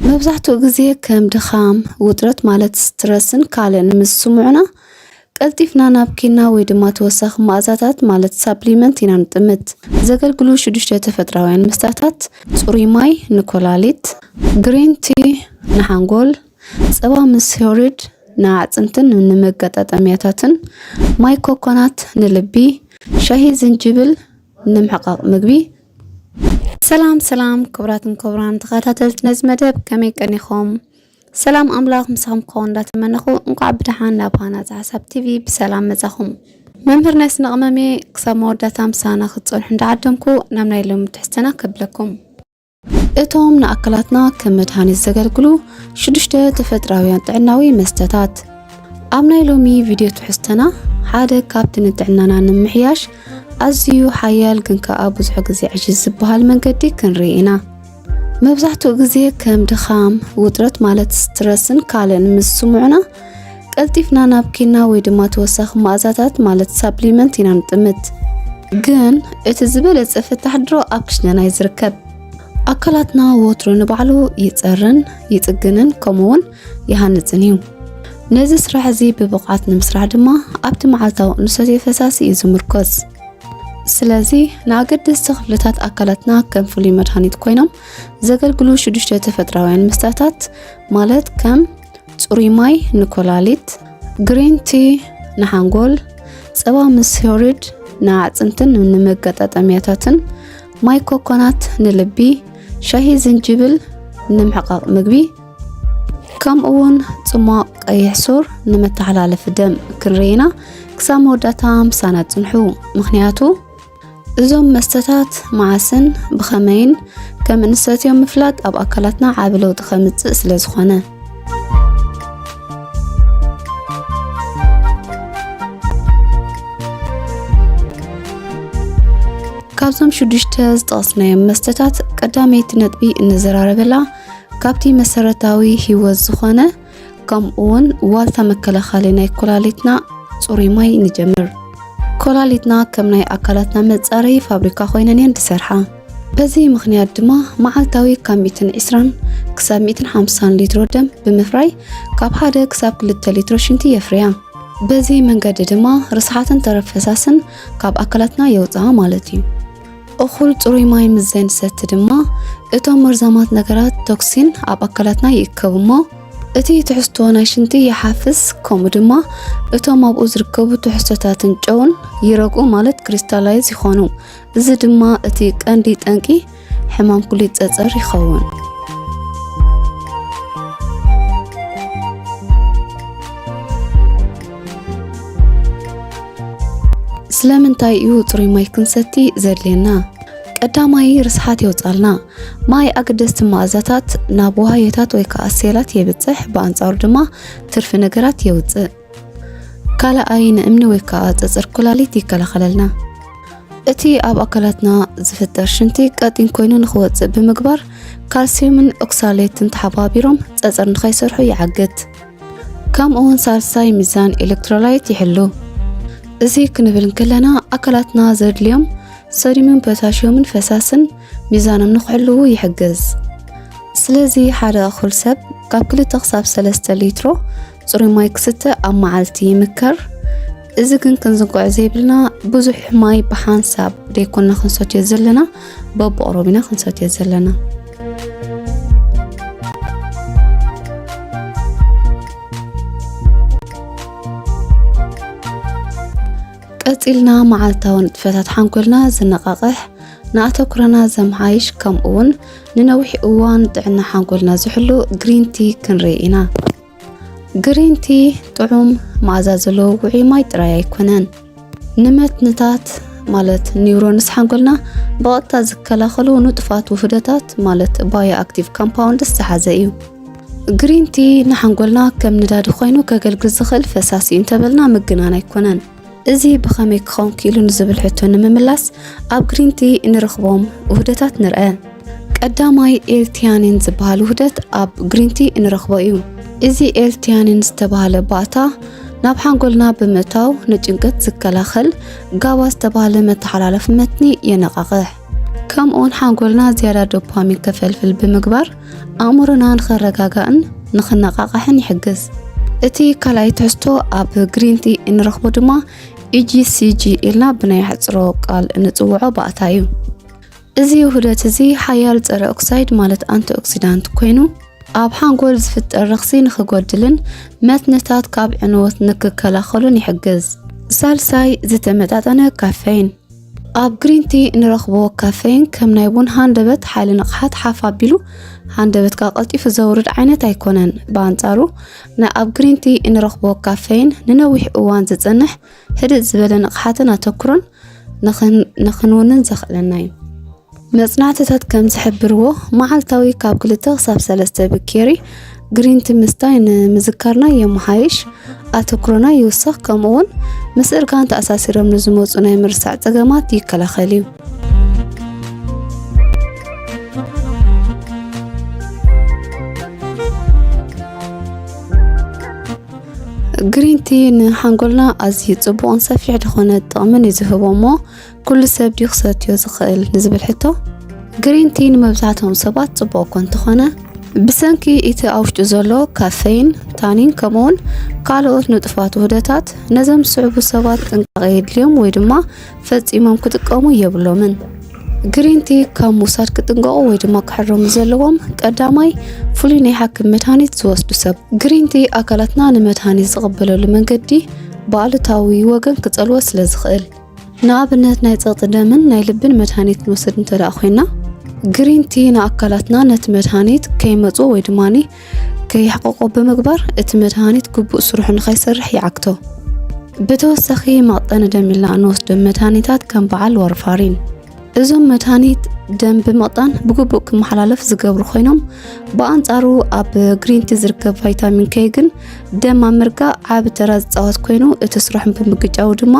መብዛሕትኡ ግዜ ከም ድኻም፣ ውጥረት ማለት ስትረስን ካልእን ምስ ዝስምዑና ቀልጢፍና ናብ ኪና ወይ ድማ ተወሳኺ መኣዛታት ማለት ሳፕሊመንት ኢና ንጥምት። ዘገልግሉ ሽዱሽተ ተፈጥራውያን መስተታት፣ ጽሩይ ማይ ንኮላሊት፣ ግሪን ቲ ንሓንጎል፣ ጸባ ምስ ዮርድ ንኣዕጽምትን ንመገጣጠምያታትን፣ ማይ ኮኮናት ንልቢ፣ ሻሂ ዝንጅብል ንምሕቃቕ ምግቢ ሰላም ሰላም ክቡራትን ክቡራን ተኸታተልቲ ነዚ መደብ ከመይ ቀኒኹም? ሰላም ኣምላኽ ምሳኹም ክኸውን እንዳተመነኹ እንኳዕ ብደሓን ናብ ሃናፂ ሓሳብ ቲቪ ብሰላም መፃኹም። መምህር ናይ ስነ ቅመም እየ ክሳብ መወዳእታ ምሳና ክትፀንሑ እንዳዓደምኩ ናብ ናይ ሎሚ ትሕዝተና ከብለኩም። እቶም ንኣካላትና ከም መድሃኒት ዘገልግሉ ሽዱሽተ ተፈጥራውያን ጥዕናዊ መስተታት ኣብ ናይ ሎሚ ቪድዮ ትሕዝተና ሓደ ካብቲ ንጥዕናና ንምሕያሽ ኣዝዩ ሓያል ግን ከኣ ብዙሕ ግዜ ዕሽሽ ዝበሃል መንገዲ ክንርኢ ኢና። መብዛሕትኡ ግዜ ከም ድኻም፣ ውጥረት ማለት ስትረስን ካልእን ምስ ስምዑና ቀልጢፍና ናብ ኪና ወይ ድማ ተወሳኺ መኣዛታት ማለት ሳፕሊመንት ኢና ንጥምት። ግን እቲ ዝበለጸ ፍታሕ ድሮ ኣብ ክሽነና እዩ ዝርከብ። ኣካላትና ወትሩ ንባዕሉ ይጸርን ይጽግንን ከምኡውን ይሃንጽን እዩ። ነዚ ስራሕ እዚ ብብቕዓት ንምስራሕ ድማ ኣብቲ መዓልታዊ እንሰትዮ ፈሳሲ እዩ ዝምርኮስ። ስለዚ ንኣገደስቲ ክፍልታት ኣካላትና ከም ፍሉይ መድሃኒት ኮይኖም ዘገልግሉ ሽዱሽተ ተፈጥራውያን መስተታት ማለት ከም ጽሩይ ማይ ንኮላሊት፣ ግሪን ቲ ንሓንጎል፣ ጸባ ምስ ሄሪድ ንኣዕጽምትን ንመገጣጠሚያታትን፣ ማይ ኮኮናት ንልቢ፣ ሻሂ ዝንጅብል ንምሕቃቕ ምግቢ ከምኡ እውን ጽሟቕ ቀይሕ ሱር ንመተሓላለፊ ደም ክንርኢና ክሳብ መወዳእታ ምሳና ጽንሑ ምክንያቱ እዞም መስተታት መዓስን ብኸመይን ከም እንሰትዮም ምፍላጥ ኣብ ኣካላትና ዓቢ ለውጢ ከምጽእ ስለ ዝኾነ ካብዞም ሽዱሽተ ዝጠቕስናዮም መስተታት ቀዳመይቲ ነጥቢ እንዘራረበላ ካብቲ መሰረታዊ ህይወት ዝኾነ ከምኡውን ዋልታ መከላኸሊ ናይ ኮላሊትና ፅሩይ ማይ ንጀምር። ኮላሊትና ከም ናይ ኣካላትና መጻረይ ፋብሪካ ኮይነን እየን ዝሰርሓ በዚ ምክንያት ድማ መዓልታዊ ካብ 120 ክሳብ 150 ሊትሮ ደም ብምፍራይ ካብ ሓደ ክሳብ ክልተ ሊትሮ ሽንቲ የፍርያ በዚ መንገዲ ድማ ርስሓትን ተረፍ ፈሳስን ካብ ኣካላትና የውፅኣ ማለት እዩ እኹል ጽሩይ ማይ ምስ ዘይንሰቲ ድማ እቶም መርዛማት ነገራት ቶክሲን ኣብ ኣካላትና ይእከቡ እሞ እቲ ትሕዝቶ ናይ ሽንቲ ይሓፍስ ከምኡ ድማ እቶም ኣብኡ ዝርከቡ ትሕዝቶታትን ጨውን ይረግኡ ማለት ክሪስታላይዝ ይኾኑ እዚ ድማ እቲ ቀንዲ ጠንቂ ሕማም ኩሊት ፀፀር ይኸውን ስለምንታይ እዩ ፅሩይ ማይ ክንሰቲ ዘድልየና? ቀዳማይ ርስሓት የውፃልና። ማይ ኣገደስቲ መኣዛታት ናብ ውሃዮታት ወይ ከዓ ሴላት የብፅሕ፣ ብኣንፃሩ ድማ ትርፊ ነገራት የውፅእ። ካልኣይ ንእምኒ ወይ ከዓ ፀፅር ኩላሊት ይከላኸለልና። እቲ ኣብ ኣካላትና ዝፍጠር ሽንቲ ቀጢን ኮይኑ ንክወፅእ ብምግባር ካልሲየምን ኦክሳሌትን ተሓባቢሮም ፀፅር ንከይሰርሑ ይዓግት። ከምኡውን ሳልሳይ ሚዛን ኤሌክትሮላይት ይሕሉ። እዚ ክንብል እንከለና ኣካላትና ዘድልዮም ሰዲምን ፖታሽዮምን ፈሳስን ሚዛኖም ንክሕልዉ ይሕግዝ። ስለዚ ሓደ እኹል ሰብ ካብ ክልተ ክሳብ ሰለስተ ሊትሮ ፅሩይ ማይ ክስተ ኣብ መዓልቲ ይምከር። እዚ ግን ክንዝንግዖ ዘይብልና ብዙሕ ማይ ብሓንሳብ ደይኮና ክንሰትዮ ዘለና በብቕሮብ ኢና ክንሰትዮ ዘለና ቀፂልና መዓልታዊ ንጥፈታት ሓንኮልና ዝነቓቕሕ ንኣተኩረና ዘምሓይሽ ከምኡውን ንነዊሕ እዋን ጥዕና ሓንኮልና ዝሕሉ ግሪንቲ ክንርኢ ኢና ግሪን ቲ ጥዑም መኣዛ ዘለዎ ውዑይ ማይ ጥራይ ኣይኮነን፣ ንመትንታት ማለት ኒውሮንስ ሓንጎልና ብቐጥታ ዝከላኸሉ ንጡፋት ውህደታት ማለት ባዮ ኣክቲቭ ካምፓውንድስ ዝሓዘ እዩ። ግሪን ቲ ንሓንጎልና ከም ነዳዲ ኮይኑ ከገልግል ዝኽእል ፈሳሲ እዩ እንተበልና ምግናን ኣይኮነን። እዚ ብኸመይ ክኸውን ክኢሉ ንዝብል ሕቶ ንምምላስ ኣብ ግሪንቲ እንረኽቦም ውህደታት ንርአ። ቀዳማይ ኤልቲያኒን ዝበሃል ውህደት ኣብ ግሪንቲ እንረኽቦ እዩ። እዚ ኤልቲያኒን ዝተባህለ ባእታ ናብ ሓንጎልና ብምእታው ንጭንቀት ዝከላኸል ጋባ ዝተባህለ መተሓላለፊ መትኒ የነቓቕሕ። ከምኡውን ሓንጎልና ዝያዳ ዶፓሚን ከፈልፍል ብምግባር ኣእምሮና ንኸረጋጋእን ንኽነቓቓሕን ይሕግዝ። እቲ ካልኣይ ትሕዝቶ ኣብ ግሪን ቲ እንረኽቦ ድማ ኢጂሲጂ ኢልና ብናይ ኣሕፅሮ ቃል እንፅውዖ ባእታ እዩ። እዚ ውህደት እዚ ሓያል ፀረ ኦክሳይድ ማለት ኣንቲ ኦክሲዳንት ኮይኑ ኣብ ሓንጎል ዝፍጠር ረኽሲ ንኽጎድልን መትንታት ካብ ዕንወት ንክከላኸሉን ይሕግዝ። ሳልሳይ ዝተመጣጠነ ካፌን ኣብ ግሪን ቲ እንረኽቦ ካፌን ከም ናይ ቡን ሃንደበት ሓይሊ ንቕሓት ሓፍ ኣቢሉ ሃንደበትካ ቀልጢፉ ዘውርድ ዓይነት ኣይኮነን። ብኣንጻሩ ናይ ኣብ ግሪን ቲ እንረኽቦ ካፌን ንነዊሕ እዋን ዝጸንሕ ህድእ ዝበለ ንቕሓትን ኣተኩሮን ንኽንውንን ዘኽእለና እዩ። መጽናዕትታት ከም ዝሕብርዎ፣ መዓልታዊ ካብ ክልተ ክሳብ ሰለስተ ብኬሪ ግሪን ቲ ምስታይ ንምዝካርና የመሓይሽ፣ ኣተኩሮና ይውስኽ፣ ከምኡ'ውን ምስ እርጋን ተኣሳሲሮም ንዝመጹ ናይ ምርሳዕ ጸገማት ይከላኸል እዩ። ግሪንቲ ንሓንጎልና ኣዝዩ ጽቡቕን ሰፊሕ ዝኾነ ጥቕምን እዩ ዝህቦ እሞ ኩሉ ሰብ ድዩ ክሰትዮ ዝኽእል ንዝብል ሕቶ ግሪን ቲ ንመብዛሕትኦም ሰባት ጽቡቕ እኳ እንተኾነ ብሰንኪ እቲ ኣብ ውሽጡ ዘሎ ካፌይን ታኒን ከምኡውን ካልኦት ንጡፋት ውህደታት ነዞም ዝስዕቡ ሰባት ጥንቃቐ የድልዮም ወይ ድማ ፈጺሞም ክጥቀሙ የብሎምን ግሪን ቲ ካብ ምውሳድ ክጥንቀቑ ወይ ድማ ክሕረሙ ዘለዎም ቀዳማይ ፍሉይ ናይ ሓክም መድሃኒት ዝወስዱ ሰብ ግሪን ቲ ኣካላትና ንመድሃኒት ዝቕበለሉ መንገዲ ብኣሉታዊ ወገን ክጸልዎ ስለ ዝኽእል ንኣብነት ናይ ጸቕጢ ደምን ናይ ልብን መድሃኒት ንወስድ እንተ ደኣ ኮይና ግሪን ቲ ንኣካላትና ነቲ መድሃኒት ከይመጽኦ ወይ ድማኒ ከይሕቆቆ ብምግባር እቲ መድሃኒት ግቡእ ስርሑ ንኸይሰርሕ ይዓግቶ። ብተወሳኺ መቕጠኒ ደም ኢልና እንወስዶም መድሃኒታት ከም በዓል ዋርፋሪን እዞም መድሃኒት ደም ብምቕጣን ብግቡእ ክመሓላለፍ ዝገብሩ ኮይኖም ብኣንጻሩ ኣብ ግሪንቲ ዝርከብ ቫይታሚን ከይ ግን ደም ኣብ ምርጋእ ዓቢ ተራ ዝፃወት ኮይኑ እቲ ስራሕን ብምግጫው ድማ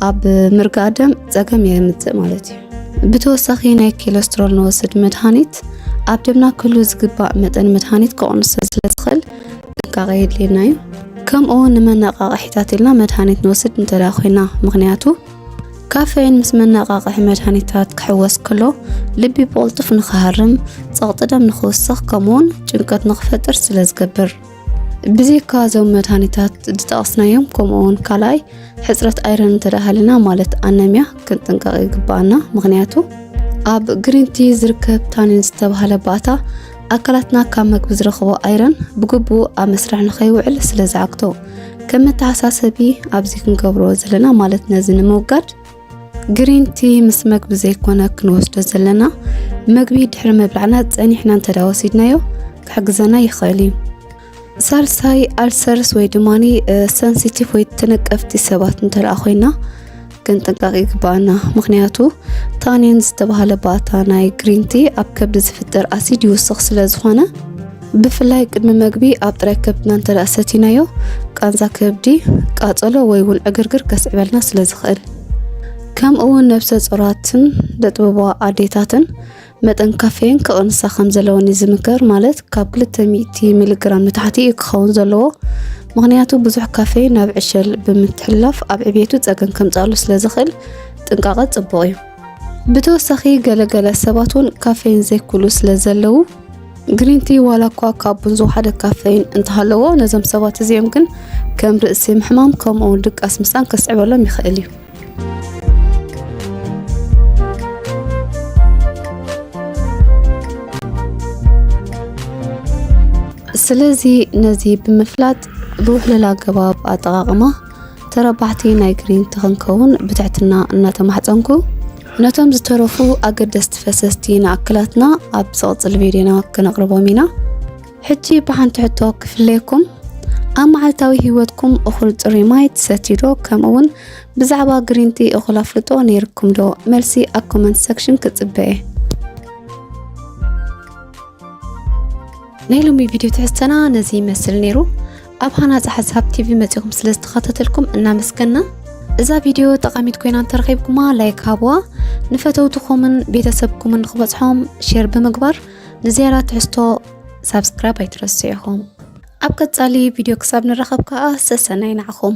ኣብ ምርጋእ ደም ጸገም የምጽእ ማለት እዩ። ብተወሳኺ ናይ ኮለስትሮል ንወስድ መድሃኒት ኣብ ደምና ክህሉ ዝግባእ መጠን መድሃኒት ከቕንሶ ስለ ዝኽእል ጥንቃቐ የድልየና እዩ። ከምኡ እውን ንመነቃቕሒታት ኢልና መድሃኒት ንወስድ እንተ ኮይና ምክንያቱ ካፌን ምስ መነቃቕሒ መድሃኒታት ክሕወስ ከሎ ልቢ ብቕልጡፍ ንክሃርም፣ ጸቕጢ ደም ንክውስኽ ከምኡውን ጭንቀት ንክፈጥር ስለ ዝገብር ብዘይካ እዞም መድሃኒታት ዝጠቐስናዮም ከምኡውን ካልኣይ ሕፅረት ኣይረን እንተዳሃለና ማለት ኣነሚያ ክንጥንቀቕ ይግባኣና ምክንያቱ ኣብ ግሪንቲ ዝርከብ ታኒን ዝተባሃለ ባእታ ኣካላትና ካብ መግቢ ዝረኽቦ ኣይረን ብግቡእ ኣብ መስርሕ ንኸይውዕል ስለ ዝዓግቶ ከም መተሓሳሰቢ ኣብዚ ክንገብሮ ዘለና ማለት ነዚ ንምውጋድ ግሪን ቲ ምስ መግቢ ዘይኮነ ክንወስዶ ዘለና መግቢ ድሕሪ ምብላዕና ጸኒሕና እንተ ወሲድናዮ ክሕግዘና ይኽእል እዩ ሳልሳይ ኣልሰርስ ወይ ድማ ሰንሲቲቭ ወይ ተነቀፍቲ ሰባት እንተደኣ ኮይና ክንጥንቀቕ ይግባኣና ምክንያቱ ታኒን ዝተባሃለ ባእታ ናይ ግሪንቲ ኣብ ከብዲ ዝፍጠር ኣሲድ ይውስኽ ስለ ዝኾነ ብፍላይ ቅድሚ መግቢ ኣብ ጥራይ ከብድና እንተ ሰቲናዮ ቃንዛ ከብዲ፣ ቃጸሎ ወይ እውን ዕግርግር ከስዕበልና ስለ ዝኽእል ከምኡ እውን ነብሰ ጾራትን ደጥበባ ኣዴታትን መጠን ካፌን ክቕንሳ ከም ዘለወን እዩ ዝምከር ማለት ካብ 200 ሚሊግራም ንታሕቲ እዩ ክኸውን ዘለዎ ምክንያቱ ብዙሕ ካፌ ናብ ዕሸል ብምትሕላፍ ኣብ ዕብየቱ ፀገም ከምፃሉ ስለ ዝኽእል ጥንቃቐ ፅቡቕ እዩ ብተወሳኺ ገለገለ ሰባት እውን ካፌን ዘይኩሉ ስለ ዘለዉ ግሪን ቲ ዋላ እኳ ካብ ቡን ዝወሓደ ካፈይን እንተሃለዎ ነዞም ሰባት እዚኦም ግን ከም ርእሲ ምሕማም ከምኡ እውን ድቃስ ምሳን ከስዕበሎም ይኽእል እዩ ስለዚ ነዚ ብምፍላጥ ብውሕልል ኣገባብ ኣጠቓቕማ ተረባሕቲ ናይ ግሪንት ክንከውን ብትሕትና እናተማሕፀንኩ ነቶም ዝተረፉ ኣገደስቲ ፈሰስቲ ንኣክላትና ኣብ ዝቕፅል ቪድዮና ክነቕርቦም ኢና ሕጂ ብሓንቲ ሕቶ ክፍለየኩም ኣብ መዓልታዊ ህይወትኩም እኹል ፅሩይ ማይ ትሰትዩ ዶ ከምኡ እውን ብዛዕባ ግሪንቲ እኹል ኣፍልጦ ነይርኩም ዶ መልሲ ኣብ ኮመንት ሰክሽን ክፅበ እየ ናይ ሎሚ ቪድዮ ትሕዝተና ነዚ ይመስል ነይሩ ኣብ ሃናጺ ሓሳብ ቲቪ መጺኹም ስለ ዝተኸታተልኩም እናመስገና እዛ ቪድዮ ጠቓሚት ኮይና እንተረኺብኩማ ላይክ ሃብዋ ንፈተውትኹምን ቤተሰብኩምን ክበጽሖም ሼር ብምግባር ንዝያዳ ትሕዝቶ ሳብስክራይብ ኣይትረስዑ ኢኹም ኣብ ቀጻሊ ቪድዮ ክሳብ ንራኸብ ከኣ ሰሰናይ ናዕኹም